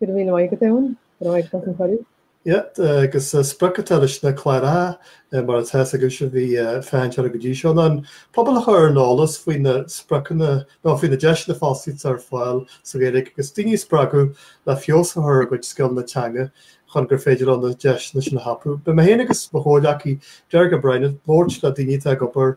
Go raibh míle maith agat Eoin, go raibh maith agat as an chuireadh. Yep, agus sprioc atá leis na cláracha, mar atá a fhios agaibhse a bhí ag féachaint orthu go dtí seo, ná an pobal a chur ar an eolas faoi na spriocanna, nó faoi na deiseanna fostaíochta atá ar fáil sa Ghaeilge agus daoine a spreagadh le feabhas a chur ar a gcuid scileanna teanga chun gur féidir leo na deiseanna sin a thapú. Beidh mé féin agus mo chomhghleacaí Derek O'Brien ag labhairt le daoine atá ag obair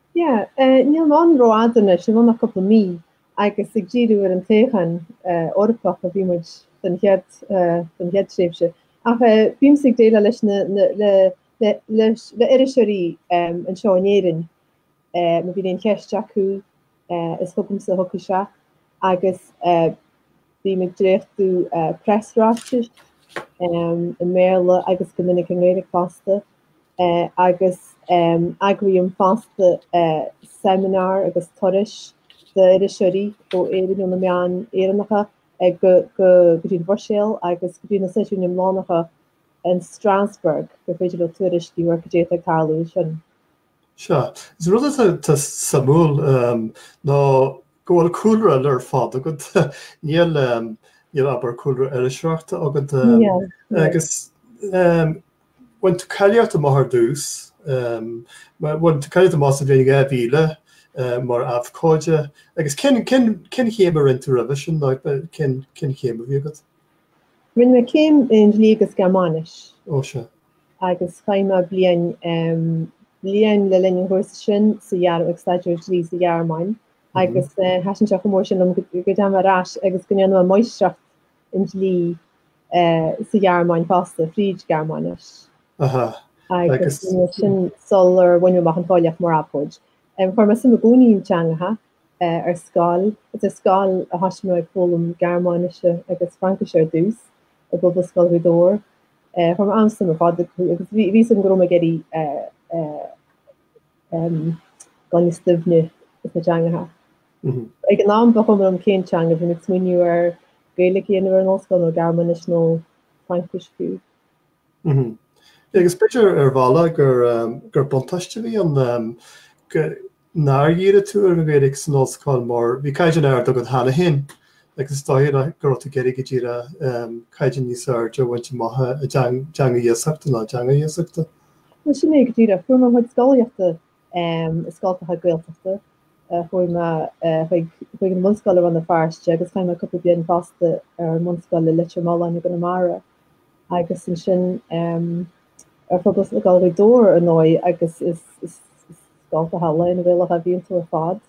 Yeah, níl mé ann rófhada anois, i bhfad ná cúpla mí, agus ag díriú ar an toghchán Eorpach a bhí muid don chéad, don chéad tréimhse, ach bímse ag déileáil leis na, le, le, leis, le iriseoirí anseo in Éirinn, má bhíonn aon cheist acu is chugamsa a thiocfaidh sé, agus eh, Bím ag dréachtú preasráitis i mBéarla agus go minic i nGaeilge fosta agus eagraím fosta seimineáir agus turais d'iriseoirí ó Éirinn, ó na meáin Éireannacha go dtí an Bhruiséil agus go dtí na seisiúin iomlánacha in Strasbourg gur féidir leo tuairisciú ar cad é atá ag tarlú ansin. Sea. Is rud atá suimiúil ná go bhfuil cúlra eile ar fad agat. Níl, abair, cúlra iriseoireachta agat agus bhain tú cáilíocht amach ar dtús, bhain tú cáilíocht amach sa bhliain 2000 mar abhcóide agus cén chéim a rinne tú roimhe sin nó cén chéim a bhí agat? Rinne mé céim i nDlí agus Gearmáinis. Ó, sea. agus chaith mé bliain bliain le linn an chúrsa sin sa Ghearmáin ag staidéar dlí sa Ghearmáin agus thaitin sé chomh mór sin liom go dteachaidh mé ar ais agus go ndearna mé Máistreacht i ndlí sa Ghearmáin fosta fríd Ghearmáinis agus sin sular bhain mé amach an cháilíocht mar abhcóide. Chuir mé suim i gcónaí i dteangacha ar scoil, is ar scoil a thosaigh mé ag foghlaim Gearmáinise agus Fraincise ar dtús i bPobalscoil Ghaoth Dobhair Chuir mé an-suim ar fad agus bhí fhios agam go raibh mé ag iarraidh dhul níos doimhne ins na teangacha. Ag an am ba chuma liom cén teanga, bhí mé ag smaoineamh ar Gaeilge a dhéanamh ar an ollscoil nó Gearmáinis nó Fraincis fiú. Agus b'fhéidir ar bhealach gur buntáiste a bhí ann Nár dhírigh tú ar an nGaeilge san ollscoil mar bhí caighdeán ard agat cheana féin agus is dócha go raibh tú ag iarraidh go díreach caighdeán níos airde a bhaint amach i dteanga iasachta nó i dteanga iasachta? Bhuel, sin é go díreach. Fuair mé mo chuid scolaíochta i scoltacha Gaeltachta. Chuaigh mé chuig an mbunscoil i Rann na Feirste agus chaith mé cúpla bliain fosta ar an mbunscoil i Leitir Mealláin i gConamara agus ansin, ar fud Ghaelscoil Ghaoth Dobhair ar ndóigh agus is scoil go hálainn Gaelach a bhí ann tú ar fad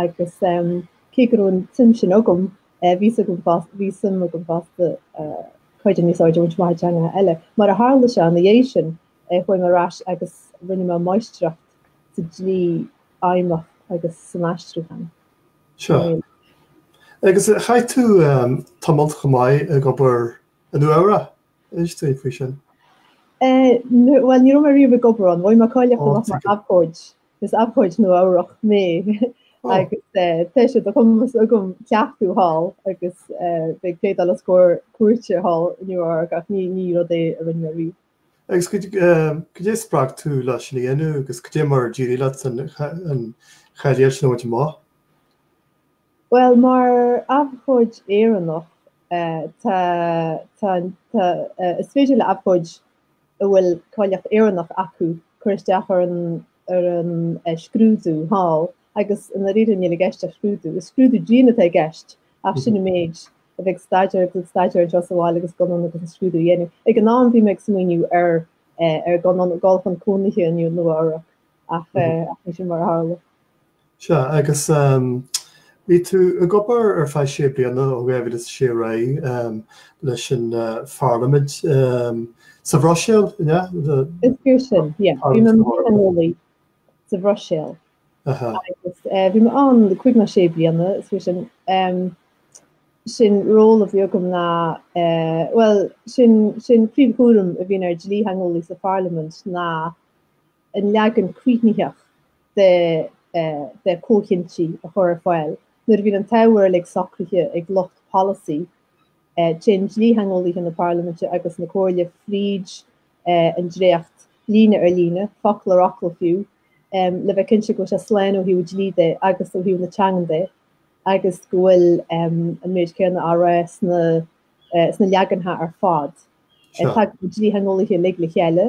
agus cé go raibh an tsuim sin agam bhí suim agam fosta céim níos airde a bhaint amach i dteangacha eile. Mar a tharla sé ina dhiaidh sin chuaigh mé ar ais agus rinne mé máistreacht sa dlí feidhmeach agus san aistriúchán. Sea. Agus chaith tú tamalt chomh maith ag obair i Nua Eabhrach? Inis dúinn faoi sin. Bhuel, ní raibh mé riamh ag obair ann. Bhain mé cáilíocht amach mar abhcóid. Is abhcóid Nua-Eabhrac mé agus tá sé de chumas agam cleachtadh thall agus bheith ag pléadáil os comhair cúirte thall i Nua-Eabhrac ach ní rud é a rinne mé riamh. Agus cad é a spreag tú leis sin a dhéanamh agus cad é mar a d'éirigh leat an cháilíocht sin a bhaint amach? Bhuel, mar abhcóid Éireannach, tá, tá, tá, is féidir le abhcóid a bhfuil cáilíocht Éireannach acu cur isteach ar an, ar an scrúdú thall agus i ndáiríre níl i gceist ach scrúdú, is scrúdú dian atá i gceist ach sin an méid, a bheith ag staidéar agus ag staidéar anseo sa bhaile agus dul anonn agus an scrúdú a dhéanamh. Ag an am bhí mé ag smaoineamh ar, ar dul anonn, dul chun cónaithe i Nua-Eabhrac ach, ach ní sin mar a tharla. Sea, agus bhí tú ag obair ar feadh sé bliana, ó 2006 ar aghaidh, leis an Pharlaimint sa Bhruiséil, an ea? Is fíor sin, yeah. Bhí mé mar dhlítheangeolaí sa Bhruiséil agus bhí mé ann le cúig nó sé bliana, is fíor sin. 'S an ról a bhí agam ná, bhuel, an príomhchúram a bhíonn ar dlítheangeolaí sa Pharlaimint ná an leagan críochnaitheach de chomhchinntí a chur ar fáil nuair a bhíonn an t-ábhar uilig socraithe ag lucht polasaí. Téann dlítheangeolaithe na Parlaiminte agus na Comhairle fríd an dréacht líne ar líne, focal ar fhocal fiú, le bheith cinnte go bhfuil sé slán ó thaobh dlí de agus ó thaobh na teangan de agus go bhfuil an méid céanna á rá sna sna leaganacha ar fad. Tagann na dlítheangeolaithe uilig le chéile,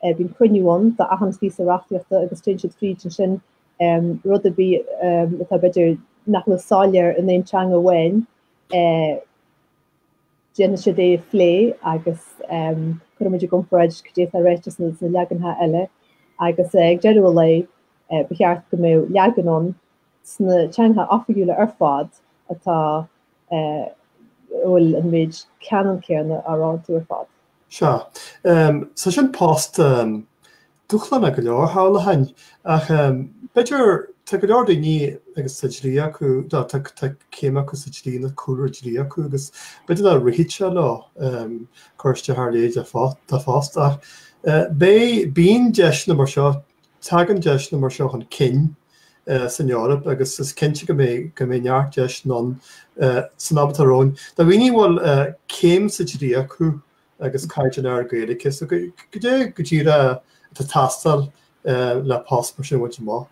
bíonn cruinniú ann d'achan phíosa reachtaíochta agus téann siad fríd ansin rud ar bith atá, b'fhéidir, nach bhfuil soiléir in aon teanga amháin, déanann siad é a phlé agus cuireann muid i gcomparáid cad é atá ráite sna leaganacha eile agus ag deireadh an lae ba cheart go mbeadh leagan ann sna teangacha oifigiúla ar fad a bhfuil an méid ceannann céanna á rá iontu ar fad. Sea. Sea, sin post dúshlánach go leor, shamhlóinn, ach b'fhéidir, tá go leor daoine agus tá dlí acu, tá céim acu sa dlí nó cúlra dlí acu agus b'fhéidir nach rithfeadh sé leo cur isteach ar a leithéid de phost ach beidh, bíonn deiseanna mar seo Tagann deiseanna mar seo chun cinn san Eoraip agus is cinnte go mbeidh neart deiseanna ann san am atá romhainn do dhaoine a bhfuil céim sa dlí acu agus caighdeán ard Gaeilge. So goidé go díreach atá ag teastáil le post mar sin a bhaint amach?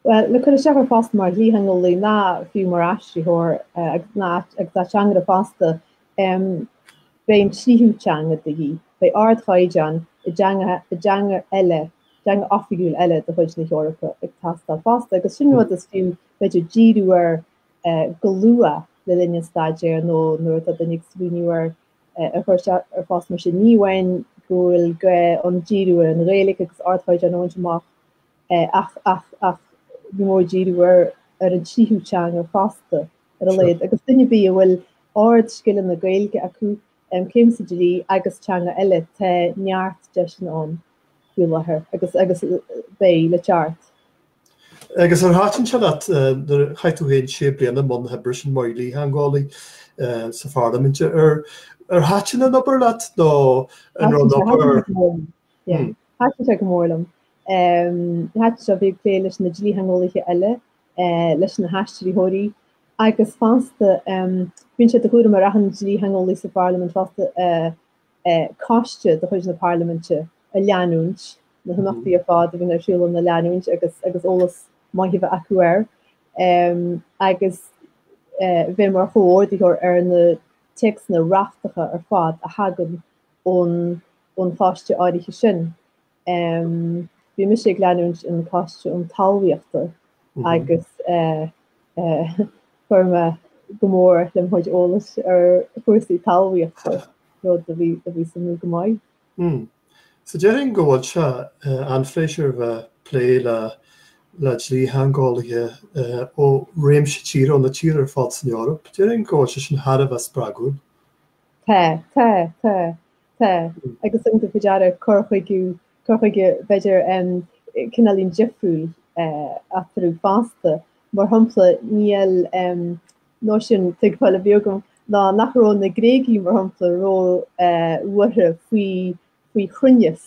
Bhuel, le cur isteach ar phost mar dhlítheangeolaí nó fiú mar aistritheoir agus ateangaire fosta, beidh an tríú teanga de dhíth, beidh ardchaighdeán i dteanga eile, teanga oifigiúil eile de chuid na hEorpa, ag teastáil fosta agus sin rud is fiú, b'fhéidir, díriú air go luath le linn an staidéir nó nuair atá duine ag smaoineamh ar chur isteach ar phost mar sin. Ní amháin go bhfuil gá ann díriú ar an Ghaeilge agus ardchaighdeán a bhaint amach ach ní mór díriú ar an tríú teanga fosta. ar a laghad, agus duine ar bith a bhfuil ardscileanna Gaeilge acu, céim sa dlí agus teanga eile, tá neart deiseanna ann faoi láthair agus agus beidh, le ceart. Agus ar thaitin sé leat nuair a chaith tú féin sé bliana i mbun na hoibre sin mar dhlítheangeolaí sa Pharlaimint, ar ar thaitin an obair leat nó an raibh an obair? Thaitin sé go mór liom. Thaitin sé, bheith ag plé leis na dlítheangeolaithe eile leis na haistritheoirí agus fosta bíonn sé de chúram ar achan dlítheangeolaí sa Pharlaimint fosta coiste de chuid na Parlaiminte a leanúint na himeachtaí ar fad a bhíonn ar siúl ann a leanúint agus agus eolas maith a bheith acu air agus bheith mar chomhordaitheoir ar na téacsanna reachtacha ar fad a thagann ón ón choiste áirithe sin. Bhí mise ag leanúint an choiste um Talmhaíochta agus chuir sé go mór le mo chuid eolais ar chúrsaí talmhaíochta, rud a bhí suimiúil go maith. So déarfainn go bhfuil sé an-phléisiúrtha bheith plé le dlítheangeolaithe ó réimse tíortha, ó na tíortha ar fad san Eoraip. Déarfainn go bhfuil sé sin thar a bheith spreagúil. Tá, tá, tá, tá. Agus thug mé faoi deara cur chuige, cur chuige b'fhéidir cineáilín difriúil eatarthu fosta. Mar shampla, bhuel nó sin an tuigbheáil a bhí agam ná nach raibh na Gréagaigh, mar shampla, róbhuartha faoi chruinneas.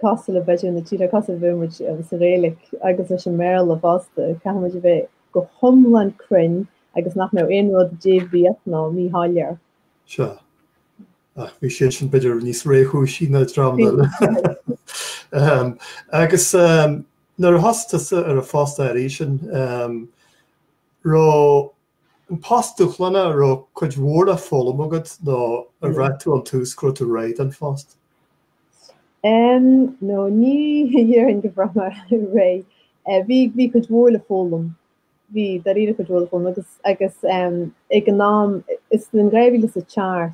cosúil le b'fhéidir na tíortha, cosúil le bheith muid sa Ghaeilic agus leis an mBéarla fosta, caithfidh muid a bheith go hiomlán cruinn agus nach mbeadh aon rud débhríoch nó míshoiléir. Sea, ach bhí siadsan b'fhéidir níos réchúisí ná dream eile. Agus nuair a thosaigh tusa ar an phost arís ansin, raibh An post dúshlánach, an raibh cuid mhór le foghlaim agat nó ar bhraith tú ón tús go raibh tú réidh don phost? Em, No, ní dhéarfainn gur bhraith mé réidh. Eh, bhí, bhí cuid mhór le foghlaim. Bhí, dáiríre, cuid mhór le foghlaim agus, agus em, ag an am, is in dhá mhíle is a seacht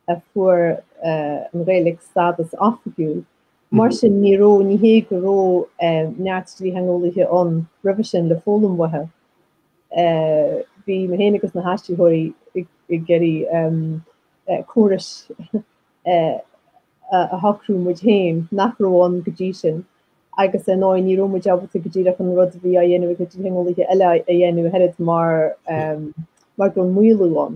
a fuair eh, an Ghaeilge stádas oifigiúil. Mar sin, ní raibh, ní hé go raibh eh, neart dlítheangeolaithe ann roimhe sin le foghlaim uathu. Bhí mé féin agus na haistritheoirí ag iarraidh córas a shocrú muid féin nach raibh ann go dtí sin agus ar ndóigh ní raibh muid ábalta go díreach an rud a bhí á dhéanamh ag dlítheangeolaithe eile a dhéanamh ach oiread mar go raibh maolú ann.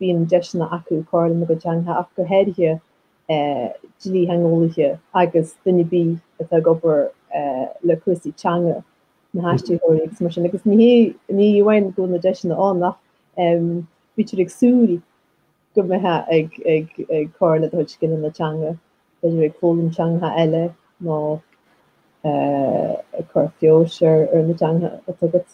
bíonn deiseanna acu cur lena gcuid teangacha ach go háirithe dlítheangeolaithe agus duine ar bith atá ag obair le cúrsaí teanga, na haistritheoirí agus mar sin agus ní hé, ní amháin go bhfuil na deiseanna ann ach bítear ag súil go mbeifeá ag ag ag cur le do chuid scileanna teanga, b'fhéidir ag foghlaim teangacha eile nó ag cur feabhais ar na teangacha atá agat.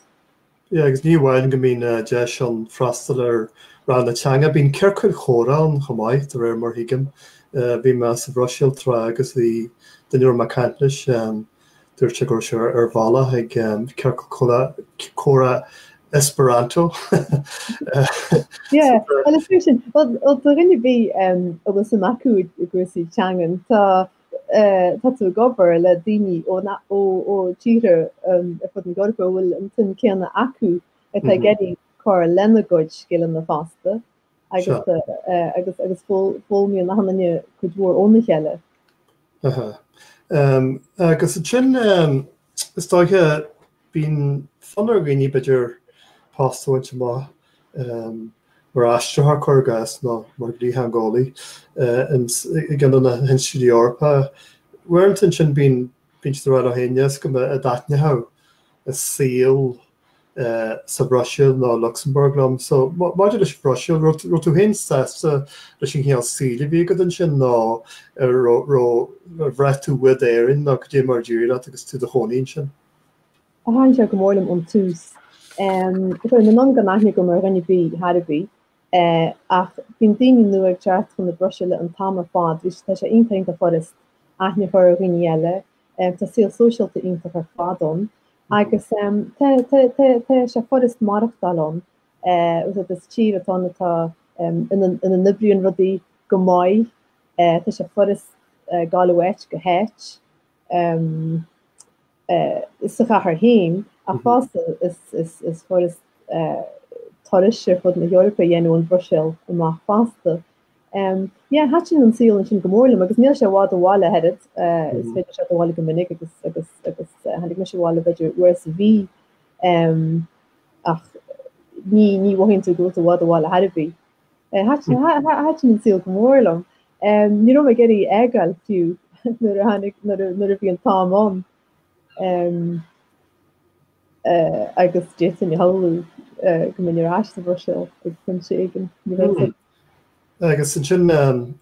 Yeah agus ní amháin go mbíonn deis ann freastal ar ranganna teanga, bíonn ciorcail chomhrá ann chomh maith de réir mar thuigim. Bhí mé sa Bhruiséil tráth agus bhí duine a raibh mé ag caint leis, dúirt sé go raibh sé ar a bhealach ag ciorcal comhrá Esperanto sa Bhruiséil. Bhuel do dhuine ar bith a bhfuil suim acu i gcúrsaí teangan tá tá tú ag obair le daoine ó tíortha ar fud na hEorpa a bhfuil an tsuim chéanna acu atá ag iarraidh cur lena gcuid scileanna fosta agus foghlaimíonn achan duine cuid mhór óna chéile. Aha. Agus ansin Is dóiche, bíonn fonn ar dhaoine b'fhéidir post a bhaint amach mar aistritheoir cuir i gcás nó mar dhlítheangeolaí i gceann de na hinstiúidí Eorpacha. Uaireanta ansin bíonn siad ag rá leo féin, 'Níl a fhios agam an dtaitneodh an saol sa Bhruiséil ná Lucsamburg liom. So, maidir leis an Bhruiséil, an raibh tú féin sásta leis an chineál saoil a bhí agat ansin nó an raibh, ar bhraith tú uait Éirinn nó cad é mar a d'éirigh leat agus tú i do chónaí ansin? Ó, thaitin sé go mór liom ón tús. Chuaigh mé anonn gan aithne agam ar dhuine ar bith thar a bheith. Ach bíonn daoine nua ag teacht chun na Bruiséile an t-am ar fad, bhí, tá sé iontach, iontach furasta aithne a chur ar dhaoine eile. Tá saol sóisialta iontach ar fad ann. Agus tá sé furast maireachtáil ann. Eh, is tír atá ann ina n-oibríonn rudaí go maith. Tá sé furast gabháil ó áit go háit. Sa chathair féin ach fosta is furast turais ar fud na hEorpa a dhéanamh ón Bhruiséil amach fosta. Em, yeah, thaitin an saol ansin go mór liom agus níl sé i bhfad ó bhaile thar a bheith. Eh, is féidir teacht abhaile go minic agus agus agus eh, tháinig mise abhaile b'fhéidir uair sa mhí. Em, ach ní ní mhothaíonn tú go bhfuil tú i bhfad ó bhaile thar a bheith. Eh, thaitin tha- tha- thaitin an saol go mór liom. Em, ní raibh mé ag iarraidh é a fhágáil fiú nuair a tháinig nuair a nuair a bhí an t-am ann. Em, eh, agus d'fhéadfainn a shamhlú eh, go mbeinn ar ais sa Bhruiséil ag pointe éigin. Ní raibh Brilliant. Agus ansin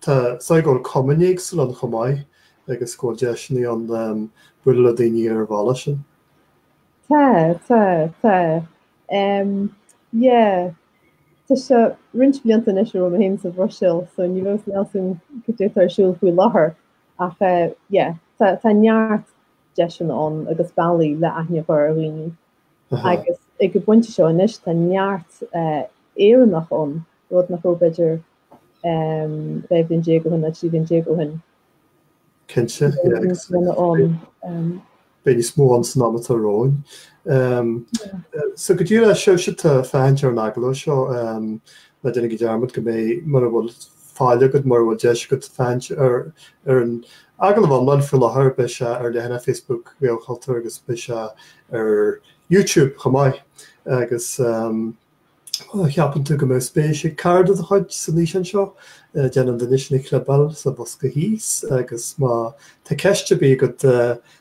tá a fhios agam go bhfuil cumainn éagsúla ann chomh maith agus go bhfuil deiseanna ann bualadh le daoine ar an bhealach sin. Tá, tá, tá. Yeah. Tá sé roinnt blianta anois ó raibh mé féin sa Bhruiséil so ní, ní, níl a fhios agam cad é atá ar siúl faoi láthair ach yeah tá neart deiseanna ann agus bealaí le aithne a chur ar dhaoine agus ag an bpointe seo anois tá neart Éireannach ann, rud nach raibh b'fhéidir 12 bhliain ó shin nó 13 bliana ó shin. Cinnte, yeah. Beidh níos mó ann san am atá romhainn. So go díreach daoibhse atá ag féachaint ar an agallamh seo, ná déanaigí dearmad go mbeidh, mura bhfuil, faill agat mura bhfuil deis agat féachaint ar an agallamh iomlán faoi láthair, beidh sé ar leathanach Facebook Ghaelchultúir agus beidh sé ar YouTube chomh maith agus má cheapann tú go mbeadh spéis ag cara de do chuid san fhíseán seo, déan an duine sin a chlibeáil sa bhosca thíos agus má tá ceist ar bith agat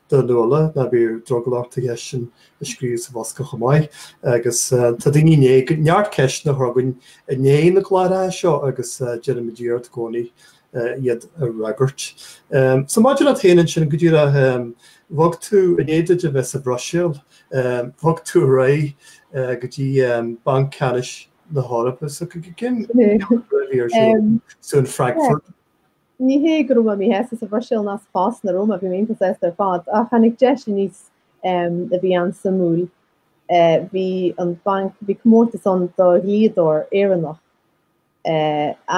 do Nuala, ná bíodh drogall ort an cheist sin a scríobh sa bhosca chomh maith agus tá daoine i ndiaidh neart ceisteanna a chur chugainn i ndiaidh na gcláracha seo agus déanaimid iarracht i gcónaí iad a fhreagairt. So maidir leat féin ansin go díreach, bhog tú i ndiaidh duit a bheith sa Bhruiséil, bhog tú ar aghaidh go dtí Banc Ceannais na hEorpa so go, go, sin, so in Frankfurt? Ní hé go raibh mé míshásta sa Bhruiséil ná sa phost sin a raibh mé, bhí mé iontach sásta ar fad, ach tháinig deis aníos a bhí an-suimiúil. Bhí an banc, bhí comórtas ann do dhlíodóir Éireannach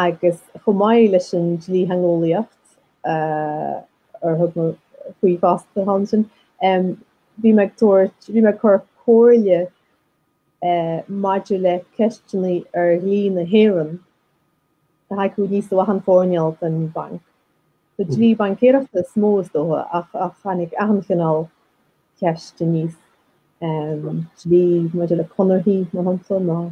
agus chomh maith leis an dlítheangeolaíocht ar thug mé faoi fosta thall ansin, bhí mé ag tabhairt, bhí mé ag cur comhairle maidir le ceisteanna ar dhlí na hÉireann le haghaidh achan chineál den Bhanc. Sa dlí baincéireachta is mó, is dócha, ach tháinig achan chineál ceist aníos, dlí maidir le conarthaí, mar shampla, nó.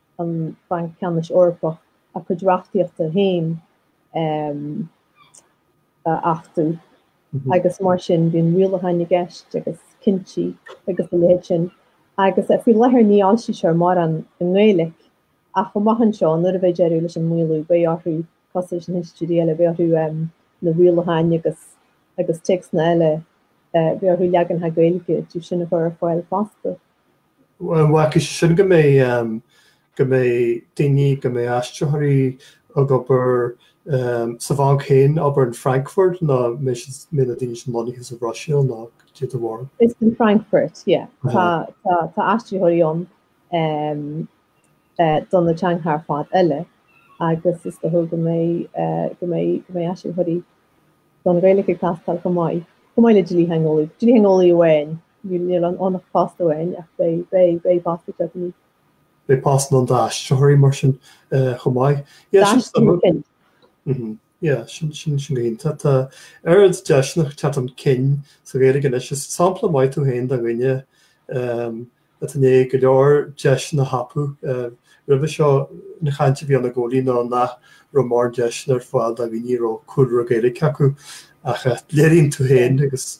an Banc Ceannais Eorpach a cuid reachtaíochta féin a achtú agus mar sin bíonn rialacháin i gceist agus cinntí agus a leithéid sin. Agus faoi láthair ní fhoilsítear mórán i nGaeilge ach amach anseo nuair a bheidh deireadh leis an maolú beidh orthu, cosúil leis na hinstitiúidí eile, beidh orthu na rialacháin agus agus téacsanna eile, beidh orthu leaganacha Gaeilge díobh sin a chur ar fáil fosta. An gciallaíonn sé sin go mbeidh, go mbeidh daoine, go mbeidh aistritheoirí ag obair sa bhanc féin, abair in Frankfurt nó mbeidh siad, mbeidh na daoine sin lonnaithe sa Bhruiséil nó caidé do bharúil? Is in Frankfurt, yeah. Tá, tá, tá aistritheoirí ann do na teangacha ar fad eile agus is dócha go mbeidh, go mbeidh, go mbeidh aistritheoirí don Ghaeilge ag teastáil chomh maith, chomh maith le dlítheangeolaí, dlítheangeolaí amháin. Níl ann ach post amháin ach beidh postanna i ndiaidh. Beidh postanna ann d'aistritheoirí mar sin chomh maith. Sea. Sin go hiontach. Tá oiread deiseanna ag teacht chun cinn sa Ghaeilge anois. Is sampla maith tú féin de dhuine atá i ndiaidh go leor deiseanna a thapú. Roimhe seo an chaint a bhí ann i gcónaí ná nach raibh mórán deiseanna ar fáil do dhaoine a raibh cúlra Gaeilge acu ach léiríonn tú féin agus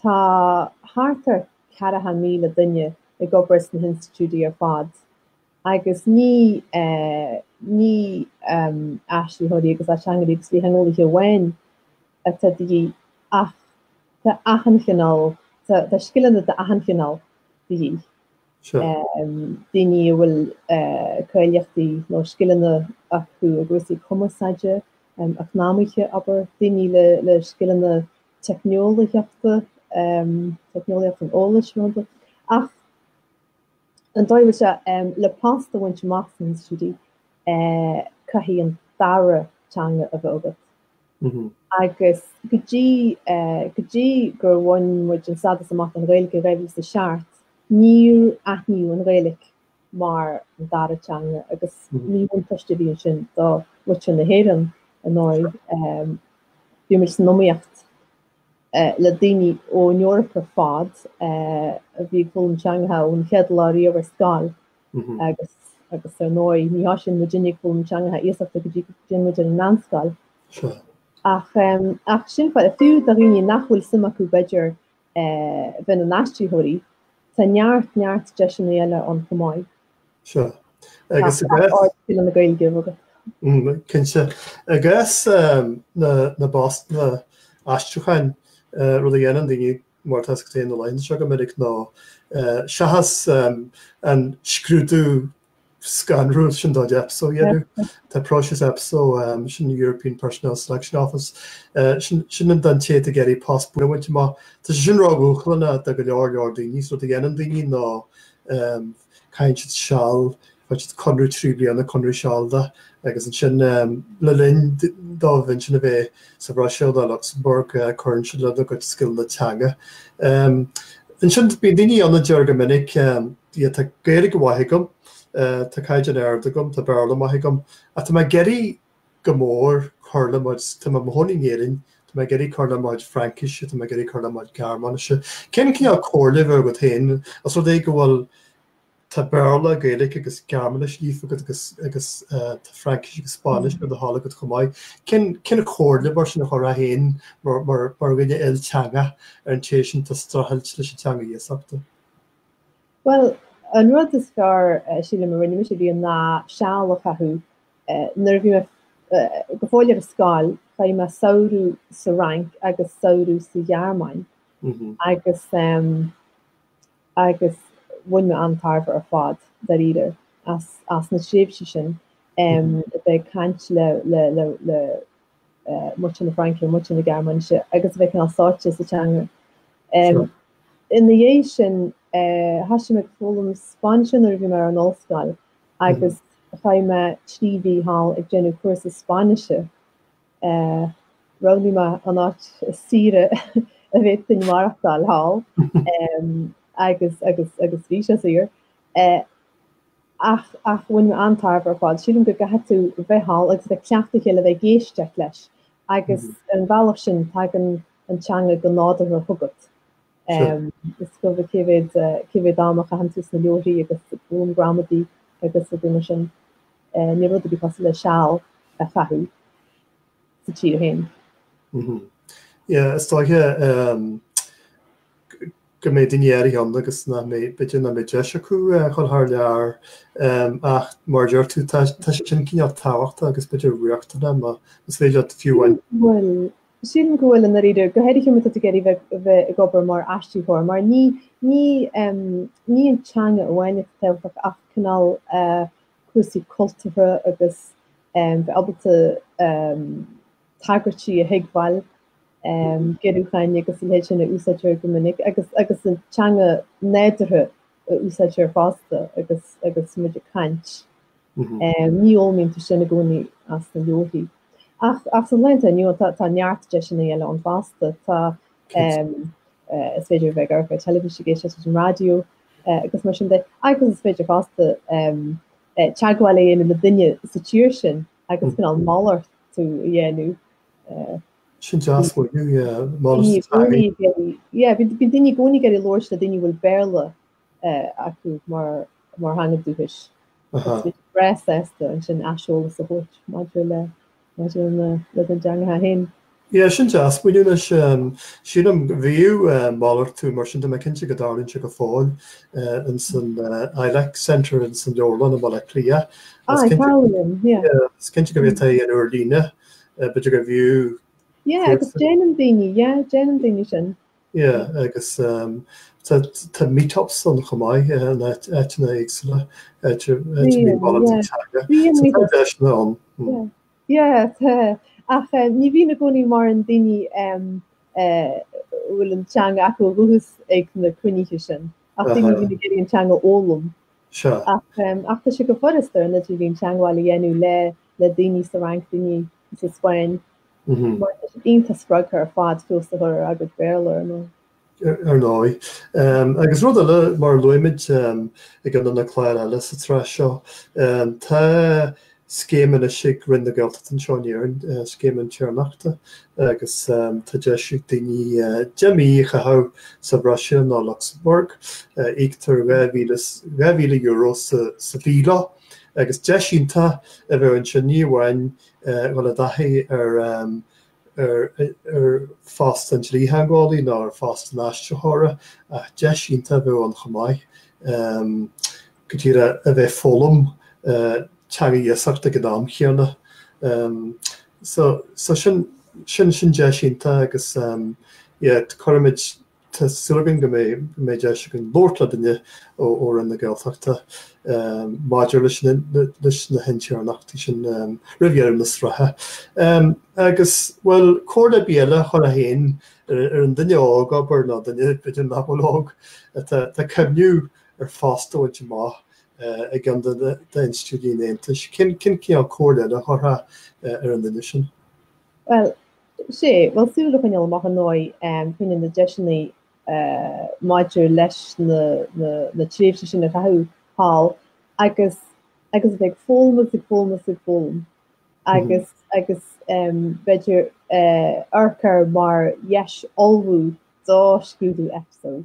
Tá thart ar 40,000 duine ag obair sna hinstitiúidí ar fad agus ní ní aistritheoirí agus ateangairí agus dlítheangeolaithe amháin atá de dhíth ach tá achan chineál, tá scileanna d'achan chineál de dhíth. Daoine a bhfuil cáilíochtaí nó scileanna acu i gcúrsaí cumarsáide, eacnamaithe, abair, daoine le scileanna teicneolaíochta, teicneolaíocht an eolais rúnaithe, ach ar ndóigh le post a bhaint amach sna hinstitiúidí caithfidh an dara teanga a bheith agat. Agus go dtí go dtí gur bhain muid an stádas amach don Ghaeilge i dhá mhíle is a seacht, níor aithníodh an Ghaeilge mar an dara teanga agus ní buntáiste a bhí ansin do muintir na hÉireann ar ndóigh. Bhí muid san iomaíocht le daoine ón Eoraip ar fad a bhí ag foghlaim teangacha ón chéad lá riamh ar scoil agus agus ar ndóigh ní thosaíonn muid uilig ag foghlaim teangacha iasachta go dtí go dtéann muid ar an meánscoil ach sin fáth fiú do dhaoine nach bhfuil suim acu b'fhéidir bheith ina n-aistritheoirí, tá neart, neart deiseanna eile ann chomh maith. Agus na Gaeilge. Cinnte. I gcás na bpostanna aistriúcháin, rud a dhéanann daoine, mar atá a fhios agat na laethanta seo go minic, ná seachas an scrúdú scanrúil sin de EPSO a dhéanamh. Tá próiseas EPSO, sin an European Personnel Selection Office, sin an don té atá ag iarraidh post a bhaint amach. Tá sé sin ródhúshlánach do go leor leor daoine. So rud a dhéanann daoine ná caitheann siad seal, faigheann siad conradh trí bliana, conradh sealadach, agus ansin le linn dóibh ansin a bheith, sa Bhruiséil nó Lucsamburg, cuireann siad lena gcuid scileanna teanga. Ansin, bíonn daoine ann a deir go minic, yeah, tá Gaeilge mhaith agam, tá caighdeán ard agam, tá Béarla maith agam, ach tá mé ag iarraidh go mór cur le mo, tá mé i mo chónaí in Éirinn, tá mé ag iarraidh cur le mo chuid Fraincise, tá mé ag iarraidh cur le mo chuid Gearmáinise. Cén cineál comhairle a bheadh agat féin, os rud é go bhfuil, Tá Béarla, Gaeilge agus Gearmáinis líofa agat agus tá Fraincis agus Spáinnis ar do thoil agat chomh maith. Cén chomhairle, mar sin, a chuirfeá féin, mar dhuine ilteangach, ar an té sin atá ag streachailt leis an teanga iasachta? Bhuel, an rud is fearr, sílim, a rinne mise riamh ná seal a chaitheamh, nuair a bhí mé go fóill ar scoil, chaith mé samhradh sa Fhrainc agus samhradh sa Ghearmáin agus, agus bhain mé an-tairbhe ar fad, dáiríre, as na tréimhsí sin, a bheith ag caint le muintir na Fraince, muintir na Gearmáinise agus a bheith cineál sáite sa teanga. Ina dhiaidh sin, thosaigh mé ag foghlaim Spáinnise nuair a bhí mé ar an ollscoil agus chaith mé trí mhí thall ag déanamh cúrsa Spáinnise. Roghnaigh mé an áit is saoire a dtiocfadh duine maireachtáil thall agus agus agus bhí sé saor ach ach bhain mé an-tairbhe ar fad. Sílim go gcaithfidh tú bheith thall agus bheith ag cleachtadh le chéile, bheith ag éisteacht leis agus ar an bhealach sin tagann an teanga go nádúrtha chugat. Is cuma cé mhéad cé mhéad am a chaitheann tú sna leabhraí agus ag bun gramadaí agus rudaí mar sin. Ní rud a bhí cosúil le seal a chaitheamh sa tír féin. Yeah, is dóiche go mbeidh daoine áirithe ann agus nach mbeidh, b'fhéidir nach mbeidh deis acu a ghabháil thar lear. Ach mar a deir tú, tá sin cineál tábhachtach agus b'fhéidir riachtanach má is féidir leat fiú amháin. Bhuel, sílim go bhfuil i ndáiríre go háirithe má tá tú ag iarraidh bheith ag obair mar aistritheoir mar ní hí an teanga amháin atá tábhachtach ach cineál cúrsaí cultúrtha agus bheith ábalta tagairtí a thuigbheáil, giorrúcháin agus a leithéid sin a úsáidtear go minic agus agus an teanga nádúrtha a úsáidtear fosta agus agus muid ag caint. Ní fhoghlaimítear sin i gcónaí as na leabharthaí. Ach ach sa lá atá inniu tá tá neart deiseanna eile ann fosta. Tá is féidir a bheith ag amharc ar teilifís, ag éisteacht leis an raidió, agus mar sin de, agus is féidir fosta teagmháil a dhéanamh le duine sa tír sin agus cineál malartú a dhéanamh. Sin deas an malartú. Bíonn daoine i gcónaí ag iarraidh labhairt le daoine a bhfuil Béarla acu mar theanga dhúchais. Breá sásta ansin aiseolas a thabhairt maidir le Maidir lena dteangacha féin. Yeah, sin deas, muna n-éiríonn. Sílim, bhíodh malartú mar sin, tá mé cinnte go dtarlaíonn sé go fóill in san ILEC Centre in san Leabharlann i mBaile Átha Cliath. Ah, i Leabharlann, yeah. Is cinnte go bhfuil, tá an Lárleabharlann, b'fhéidir go bhíodh... Yeah, agus déanann daoine, yeah, déanann daoine sin. Yeah agus tá meetups ann chomh maith in áiteanna éagsúla idir mí Mhárta agus Teanga so tá deiseanna ann. Yeah tá ach ní bhíonn i gcónaí mórán daoine a bhfuil an teanga acu ó dhúchas ag na cruinnithe sin ach daoine a bhíonn ag iarraidh an teanga a fhoghlaim ach tá sé go furasta ar an idirlíon teagmháil a dhéanamh le daoine sa Fhrainc, daoine sa Spáinn, mar tá siad iontach spreagtha ar fad feabhas a chur ar a gcuid Béarla, ar ndóigh. Ar ndóigh. Agus rud eile, mar a luaigh muid i gceann de na cláir eile sa tsraith seo, tá scéim anois ag Roinn na Gaeltachta anseo in Éirinn, Scéim Intéirneachta, agus tá deis ag daoine deich mí a chaitheamh sa Bhruiséil nó Lucsamburg. Íoctar dhá mhíle, dhá mhíle euro sa mhí leo. agus deis iontach a bheadh ansin ní amháin dhul i dtaithí ar phost an dlítheangeolaí nó ar phost an aistritheora ach deis iontach a bheadh ann chomh maith go díreach a bheith ag foghlaim teanga iasachta ag an am chéanna. So sin deis iontach agus cuirimid Tá súil againn go mbeidh deis againn labhairt le duine ó Roinn na Gaeltachta maidir leis na hintéirneachtaí sin roimh dheireadh na sraithe. Agus, bhuel, comhairle ar bith eile a chuirfeá féin ar an duine óg, abair, nó duine, b'fhéidir, nach bhfuil óg, atá ag cuimhniú ar phost a bhaint amach i gceann d'institiúidí an Aontais, cén cineál comhairle eile a chuirfeá ar an duine sin? Bhuel, Sea, bhuel, súil a choinneáil amach ar ndóigh fá choinne na ndeiseanna maidir leis na tréimhsí sin a chaitheamh thall agus agus a bheith ag foghlaim agus ag foghlaim agus ag foghlaim agus agus b'fhéidir amharc air mar dheis ullmhú do scrúdú Epso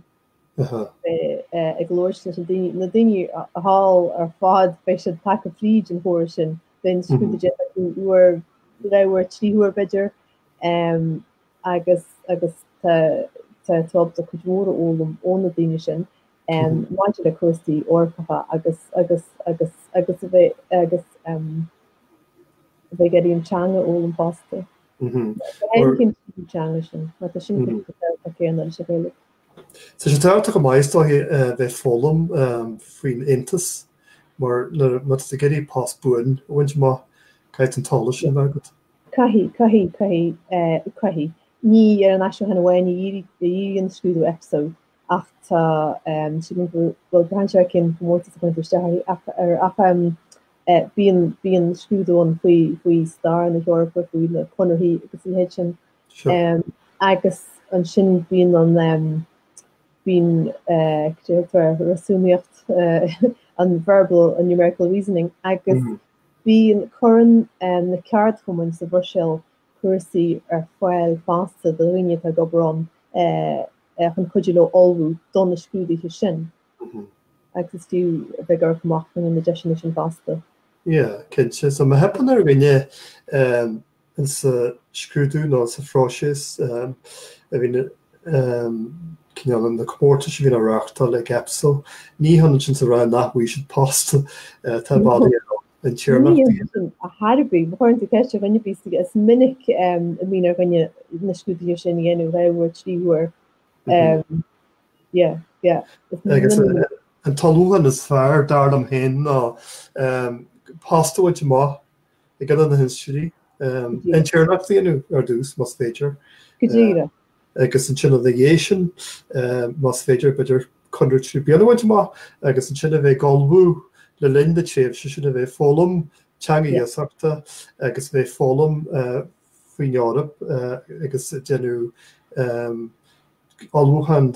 agus labhairt leis na daoine thall ar fad, beidh siad tagtha fríd an chóras sin, beidh an scrúdú déanta acu uair, dhá uair, trí huair b'fhéidir, agus tá tú ábalta cuid mhór a fhoghlaim ó na daoine sin maidir le cúrsaí Eorpacha agus a bheith ag iarraidh an teanga a fhoghlaim fosta. Bheadh aon chinntiú sa teanga sin, mar tá sin cosúil le Gaeilge céanna leis an Ghaeilge. Tá sé tábhachtach go maith, is dóigh, bheith ag foghlaim faoin Aontas mar má tá tú ag iarraidh post buan a bhaint amach, caithfidh an t-eolas sin a bheith agat. Caithfidh, caithfidh, caithfidh, caithfidh. Ní ar an aistriúchán amháin a dhíríonn an scrúdú Epso ach tá, sílim go bhfuil braitheann sé ar cén comórtas a chuireann tú isteach air ach bíonn scrúdú ann faoi stair na hEorpa, faoi na conarthaí agus a leithéid sin. Sure. Agus ansin bíonn an bíonn réasúnaíocht an verbal an numerical reasoning agus bíonn cuireann na ceardchumainn sa Bhruiséil cúrsaí ar fáil fosta do dhaoine atá ag obair ann chun cuidiú leo ullmhú do na scrúduithe sin agus is fiú a bheith ag amharc amach fá choinne na ndeiseanna sin fosta. Sea, cinnte. So má theipeann ar dhuine sa scrúdú nó sa phróiseas a bhíonn cineál na comórtais a bhíonn á reáchtáil ag EPSO. Ní hionann sin is a rá nach bhfaighidh siad post atá bailí ar an téarma. Ní hionann sin ar chor ar bith. Ba chóir an dá cheist a dhaingean bíos is minic a bhíonn ar dhuine na scrúduithe sin a dhéanamh dhá uair trí huair. Agus an t-ullmhúchán is fearr, dar liom féin, ná post a bhaint amach i gceann de na hinstitiúidí, intéirneacht a dhéanamh ar dtús, más féidir. Go díreach. Agus ansin ina dhiaidh sin, más féidir, b'fhéidir conradh trí bliana a bhaint amach agus ansin a bheith ag ullmhú le linn na tréimhse sin a bheith ag foghlaim teanga iasachta agus a bheith ag foghlaim faoin Eoraip agus déanamh ullmhúcháin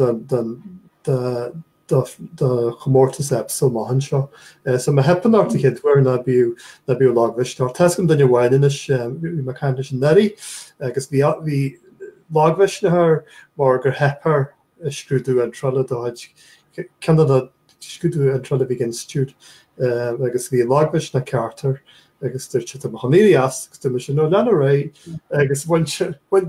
do chomórtas Epso amach anseo. So má theipeann ort an chéad uair ná bíodh lagmhisneach ort. Tá's agam duine amháin anois, bhí mé ag caint leis anuraidh agus bhí lagmhisneach air mar gur theip air scrúdú iontrála de chuid ceann de na scrúduithe iontrála a bhí ag an Institiúid agus bhí lagmhisneach ceart air agus dúirt sé, 'Tá mé chun éirí as agus dúirt mé ansin, 'No, lean ar aghaidh agus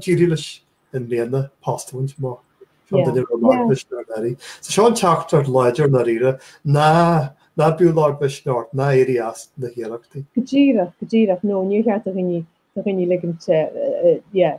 d'éirigh leis i mbliana, post a bhaint amach. So seo an teachtaireacht láidir i ndáiríre, ná bíodh lagmhisneach ort, ná éirí as na hiarrachtaí. Go díreach, go díreach. No, níor cheart do dhaoine ligint, yeah,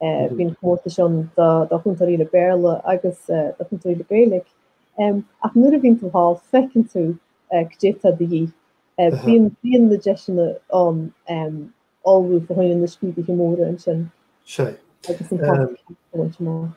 Bíonn comórtas ann do Chúntóirí le Béarla agus do Chúntóirí le Gaeilge. Ach nuair a bhíonn tú thall feiceann tú cdé tá de dhíth. Bíonn na deiseanna ann ullmhú fá choinne na scrúduithe móra ansin. Sea. Agus an jab a bhaint amach.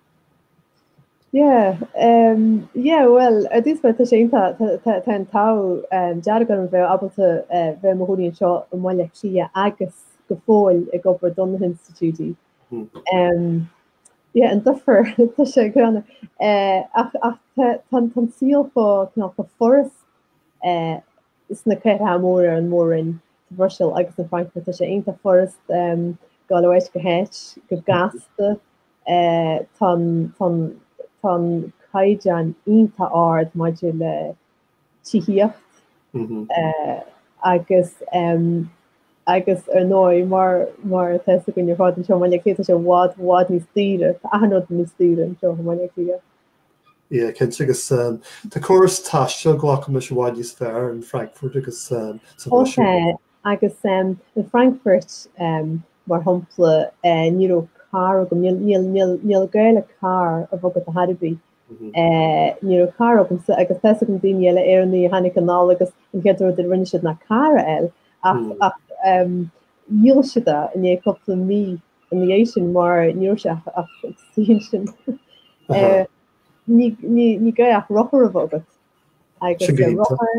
Yeah um yeah bhuel ar dtús bhuel tá sé iontach tá tá tá an t-ádh um dearg orm bheith ábalta eh bheith i mo chónaí anseo i mBaile Átha Cliath agus go fóill ag obair don na hinstitiúidí um yeah an difear tá sé greannmhar eh ach ach tá tá an saol cineál chomh furast eh sna cathracha móra ar an Mhór-Roinn sa Bhruiséil agus in Frankfurt tá sé iontach furast dul ó áit go háit go gasta tá tá an caighdeán iontach ard maidir le tithíocht agus agus ar ndóigh mar mar atá fhios againn ar fad anseo i mBaile Átha Cliath tá sé i bhfad i bhfad níos daoire tá achan rud níos daoire anseo i mBaile Átha Cliath Yeah, cinnte, agus tá córas taistil glacaim leis i bhfad níos fearr in Frankfurt agus sa Bhruiséil. Tá, agus in Frankfurt, mar shampla, ní raibh carr agam, níl gá le carr a bheith agat ar chor ar bith, ní raibh carr agamsa agus tá's agam daoine eile, Éireannaigh, a tháinig anall agus an chéad rud a rinne siad ná carr a fháil ach dhíol siad é i ndiaidh cúpla mí. ina dhiaidh sin mar ní raibh sé ach sin sin ní gá ach rothar a bheith agat agus rothar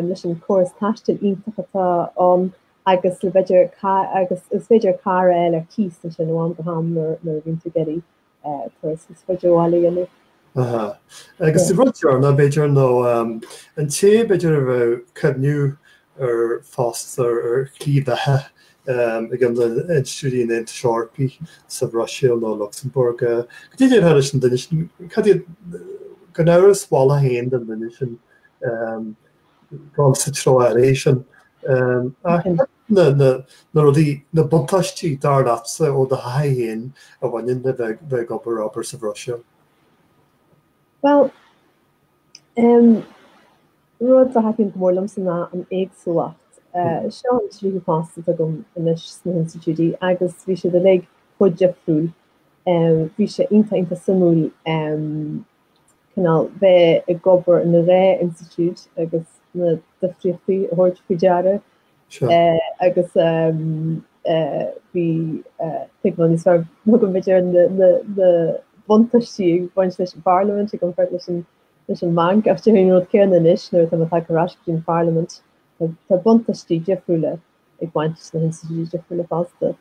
leis an chóras taistil iontach atá ann agus b'fhéidir agus is féidir carr a fháil ar cíos ansin ó am go ham má bhíonn tú ag iarraidh Turas níos faide ó bhaile a dhéanamh. Aha. Agus sa rud deireanach, b'fhéidir, nó an té, b'fhéidir, a bheadh ag cuimhneamh ar phost ar shlí bheatha ag na hinstitiúidí an Aontais Eorpaí sa Bhruiséil nó i Lucsamburg, cad a déarfá leis an duine sin, cad é, gan amhras, do mholadh féin don duine sin, gabháil sa treo áirithe sin. Ach na rudaí, na buntáistí, dar leatsa ó do thaithí féin a bhaineann le bheith ag obair, obair sa Bhruiséil? Bhuel, rud a thaitníonn go mór liomsa ná an éagsúlacht. Seo an tríú phost agam anois sna hInstitiúidí agus bhí siad uilig chomh difriúil. Bhí sé iontach, iontach suimiúil. cineál bheith ag obair ina dhá institiúid agus na difríochtaí a thabhairt faoi deara agus bhí tuigbheáil níos fearr agam b'fhéidir ar na buntáistí ag baint leis an Pharlaimint ag baint leis an leis an mbanc ach déarfainn an rud céanna anois nuair atá mé tagtha ar ais go dtí an Pharlaimint tá buntáistí difriúla ag baint leis na hinstitiúidí difriúla fosta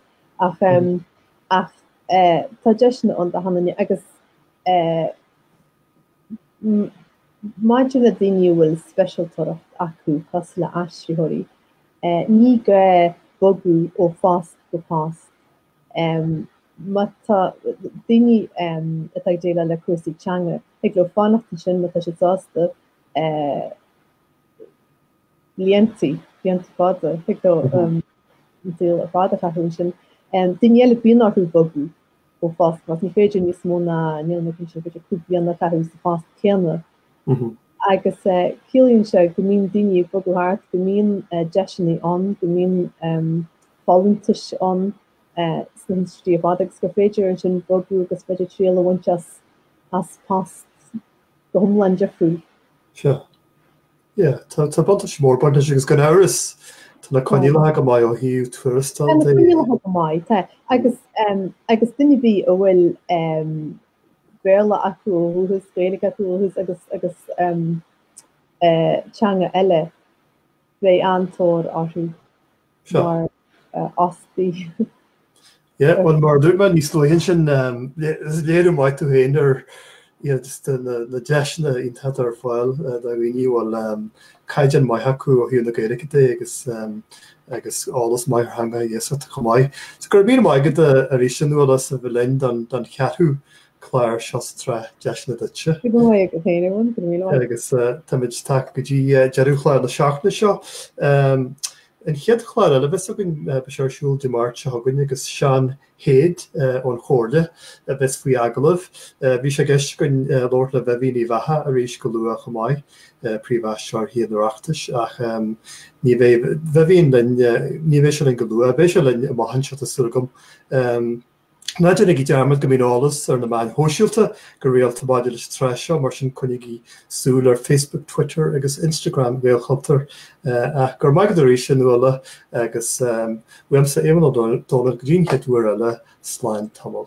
ach tá deiseanna ann d'achan duine agus Eh, maidir le daoine a bhfuil speisialtóireacht acu cosúil le aistritheoirí, ní gá bogadh ó phost go post. Eh, má tá daoine atá ag déileáil le cúrsaí teanga, thig leo fanacht ansin má tá siad sásta, blianta, blianta fada, thig leo an saol ar fad a chaitheamh ansin. Eh, daoine eile, bíonn orthu bogadh ó phost, mar ní féidir níos mó ná, níl mé cinnte, b'fhéidir cúig bliana a chaitheamh sa phost céanna. Agus ciallaíonn sé go mbíonn daoine ag bogadh thart, go mbíonn deiseanna ann, go mbíonn folúntais ann sna hinstitiúidí ar fad agus gur féidir ansin bogadh agus féidir triail a bhaint as post go hiomlán difriúil. Sure. Tá buntáiste mór ag baint leis agus gan amhras tá na coinníollacha go maith ó thaobh tuarastail de. Tá na coinníollacha go maith, tá, agus duine ar bith a bhfuil Béarla acu ó dhúchas, Gaeilge acu ó dhúchas agus teanga eile, beidh an-tóir orthu mar fhostaithe. Yeah, bhuel mar a dúirt mé níos luaithe ansin, léiriú maith tú féin ar na deiseanna iontacha atá ar fáil do dhaoine a bhfuil caighdeán maith acu ó thaobh na Gaeilge de agus eolas maith ar theanga iasachta chomh maith. So go raibh míle maith agat arís a Nuala as a bheith linn don cheathrú clár seo sa tsraith Deiseanna Duitse. Go raibh maith agat a Sheáin Eoghan, go raibh míle maith agat. Agus táimid tagtha go dtí deireadh chlár na seachtaine seo. An chéad chlár eile a bheas againn, beidh sé ar siúl Dé Máirt seo chugainn agus Seán Hade ón Chomhairle a bheas faoi agallamh. Bhí sé i gceist againn labhairt le Vivian Uíbh Eachach arís go luath chomh maith, Príomh-Aistritheoir Thithe an Oireachtais, ach ní bheidh Vivian linn, ní bheidh sé linn go luath. Beidh sé linn amach anseo tá súil agam. Ná déanaigí dearmad go mbíonn eolas ar na meáin shóisialta go rialta maidir leis an tsraith seo, mar sin coinnígí súil ar Facebook, Twitter agus Instagram Ghaelchultúir. Ach go raibh maith agat arís, a Nuala, agus uaimse, Éamonn Ó Dónaill, go dtí an chéad uair eile, slán tamall.